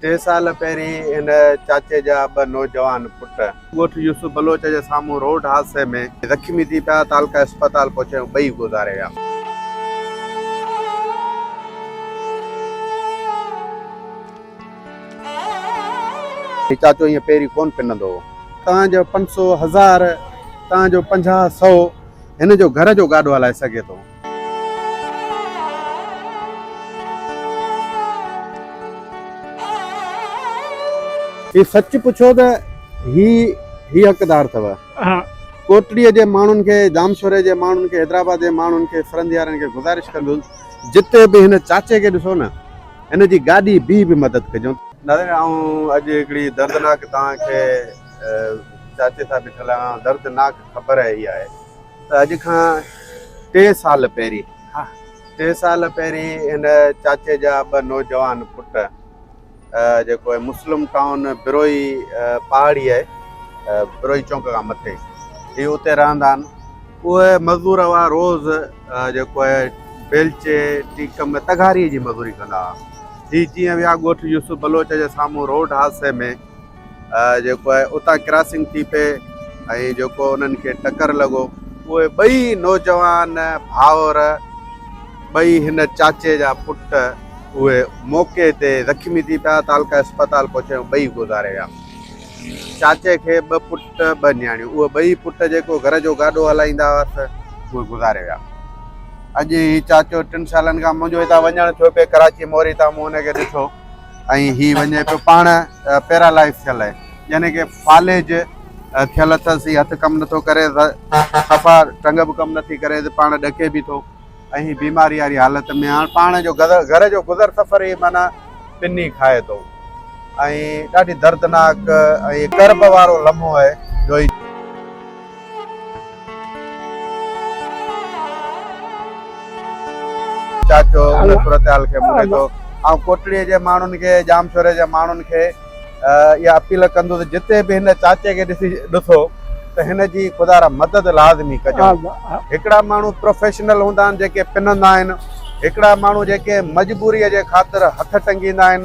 ٽي سال پهرين هن چاچي جا ٻه نوجوان پٽ ڳوٺ يوسف بلوچ جي سامهون روڊ حادثي ۾ زخمي ٿي پيا تعلقه اسپتال پهچي هو ٻئي گذاري ويا. هي چاچو ائين پيري ڪونه پنندو هو. تان جو پنج سو هزار تان جو پنجاهه سو هن جو گهر جو گاڏو هلائي سگهي ٿو. هي سچ پڇو ته هي هي حقدار اٿو ڪوٽڙي جي ماڻهن کي ڄامشوري جي ماڻهن کي حيدرآباد جي ماڻهن کي سرنڌيارن کي گذارش ڪندس جتي به هن چاچي کي ڏسو نه هن جي گاڏي بيهي به مدد ڪجو. ناظرين آئون اڄ هڪڙي دردناڪ توهان کي چاچي سان بيٺل آهيان دردناڪ خبر هي آهي اڄ کان ٽي سال پهرين ٽي سال پهرين هن چاچي جا ٻه نوجوان پٽ جيڪو آهي مسلم ٽائون بروهي پهاڙي آهي بروهي چونڪ کان مٿي هي اتي رهندا آهن اهي مزدور هئا روز جيڪو آهي بيلچي ٽيڪم ۾ تغاري جي مزوري ڪندا هئا هي جيئن ويا ڳوٺ يوسف بلوچ جي سامهون روڊ حادثي ۾ جيڪو آهي اتان ڪراسنگ ٿي پئي ۽ جيڪو انهن کي ٽڪر لڳو اهي ٻئي نوجوان ڀائر ٻئي هن چاچي جا پٽ اهي موقعي تي زخمي ٿي پيا تعلقه اسپتال پهچي ٻئي گذاري ويا چاچي کي ٻه پٽ ٻه نياڻيون اهي ٻئي پٽ جيڪو گهر جو گاڏو هلائيندا هئا ته اهي گذاري ويا اڄ هي چاچو ٽن سالن کان منهنجو هتان وڃڻ ٿيو پئي ڪراچي موري تان مون هن کي ڏٺو ۽ هي وڃي پيو پاڻ پيرالائز ٿيل يعني ڪي فالج ٿيل اٿس هي هٿ ڪم نٿو ڪري صفا ٽنگ به ڪم نٿي ڪري ته پاڻ ڏڪي به ٿو ۽ هي بيماري واري حالت ۾ هاڻ پاڻ جو گهر جو گذر سفر هي معنيٰ پني کائي ٿو ۽ ڏاڍي دردناڪ ۽ ڪرب وارو لمحو آهي جو چاچو ان صورتحال کي مڙهي ٿو آئون ڪوٽڙي جي ماڻهن کي ڄامشوري جي ماڻهن کي اها اپيل ڪندس جتي به هن چاچي کي ڏسي ڏسو ته هن جي خدا را مدد لازمي ڪجو هڪڙا ماڻهو پروفيشنل هوندا آهن جيڪي پنندا آهن هڪڙا ماڻهو جيڪي مجبوري جي خاطر هٿ ٽنگيندا آهن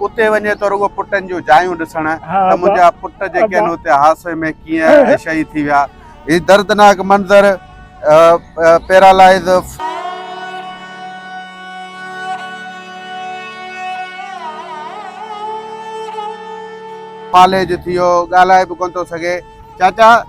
اتي وڃي ته رڳو پٽن جون جايون ڏسڻ ته منهنجا پٽ جيڪي آهن اتي حادثي ۾ ڪيئن ۽ شهيد ٿي ويا هي دردناڪ منظر پيرالائز فاليج ٿي ويو ڳالهائي به ڪونه ٿو سگهي چاچا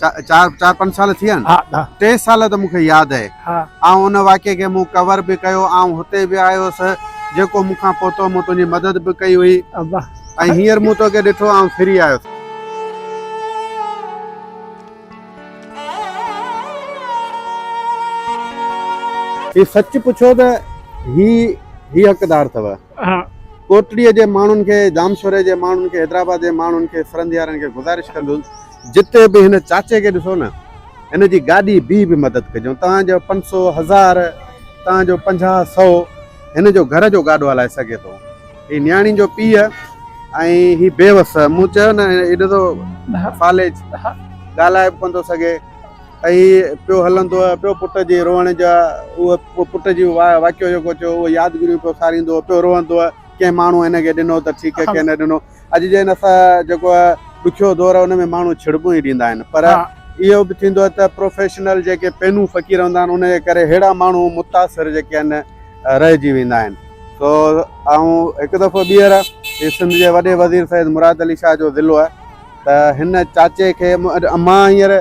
چار چار پنج سال ٿي ويا آهن ها ٽي سال ته مون کي ياد آهي ها آئون ان واقعي کي مون ڪور به ڪيو آئون هتي به آيو هوس جيڪو مون کان پهتو مون تنهنجي مدد به ڪئي هئي ابا ۽ هينئر مون توکي ڏٺو آئون ڦري آيو ٿو هي سچ پڇو ته هي هي حقدار اٿو ڪوٽڙيء جي ماڻهن کي، ڄامشوري جي ماڻهن کي، حيدرآباد جي ماڻهن کي، سرنديارن کي گذارش ڪندس جتي به هن چاچي کي ڏسو نه هن جي گاڏي بيهي به مدد ڪجون. توهان جو پنج سؤ، هزار، توهان جو پنجاهه، سؤ هن جو گهر جو گاڏو هلائي سگهي ٿو. هي نياڻي جو پيء ۽ هي بيوس. مون چيو نه هي ڏسو فالج ڳالهائي به ڪونه ٿو سگهي. هي پيو هلندو هو پيو پٽ جي روئڻ جا اهو پٽ جي واقعو جيڪو ٿيو اهو يادگيريون پيو ساريندو هو پيو روئندو هو ڪنهن ماڻهو هن کي ڏنو ته ٺيڪ ڪنهن نه ڏنو اڄ جي هن سا جيڪو ڏکيو دور هن ۾ ماڻهو ڇڙٻون ئي ڏيندا آهن پر اهو به ٿيندو آهي ته پروفيشنل جيڪي پينون فقير هوندا آهن ان جي ڪري ههڙا ماڻهو متاثر جيڪي آهن رهجي ويندا آهن سو آئون هڪ دفعو ٻيهر سنڌ جي وڏي وزير سيد مراد علي شاهه جو ضلعو آهي ته هن چاچي کي مان هينئر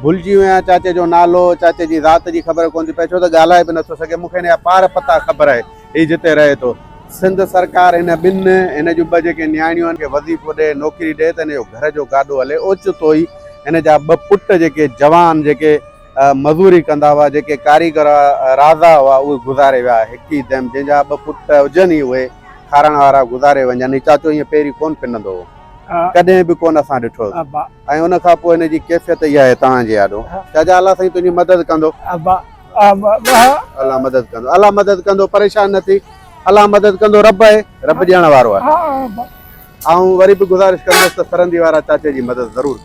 ڀلجي ويو آهيان چاچي جو نالو چاچي جي ذات جي خبر ڪونه ٿي پئي ڇو ته ڳالهائي به نٿو سگهي مون کي هن جا پار پتا خبر آهي هي جتي رهي ٿو سنڌ سرڪار هن ٻن هن جون ٻه جيڪي نياڻيون آهن کي وظيفو ڏي نوڪري ڏي ته هن جو گهر جو گاڏو هلي اوچتو ئي هن جا ٻه پٽ جيڪي جوان جيڪي مزوري ڪندا هئا جيڪي ڪاريگر راضا هئا اهي گذاري ويا هڪ ئي دم جنهن جا ٻه پٽ هجن ئي اهي کارڻ وارا گذاري وڃن هي چاچو هيئن پيري ڪونه پنندو هو ڪڏهن به ڪونه اسان ڏٺوس ۽ ان کان پوء هن جي ڪيفيت اها آهي تان جي آڏو جا جا الله سائين تنهنجي مدد ڪندو الله مدد ڪندو الله مدد ڪندو پريشان نه ٿي الله مدد ڪندو رب آهي رب ڏيڻ وارو آهي آئون وري به گذارش ڪندس ته سرندي وارا چاچي جي مدد ضرور ڪن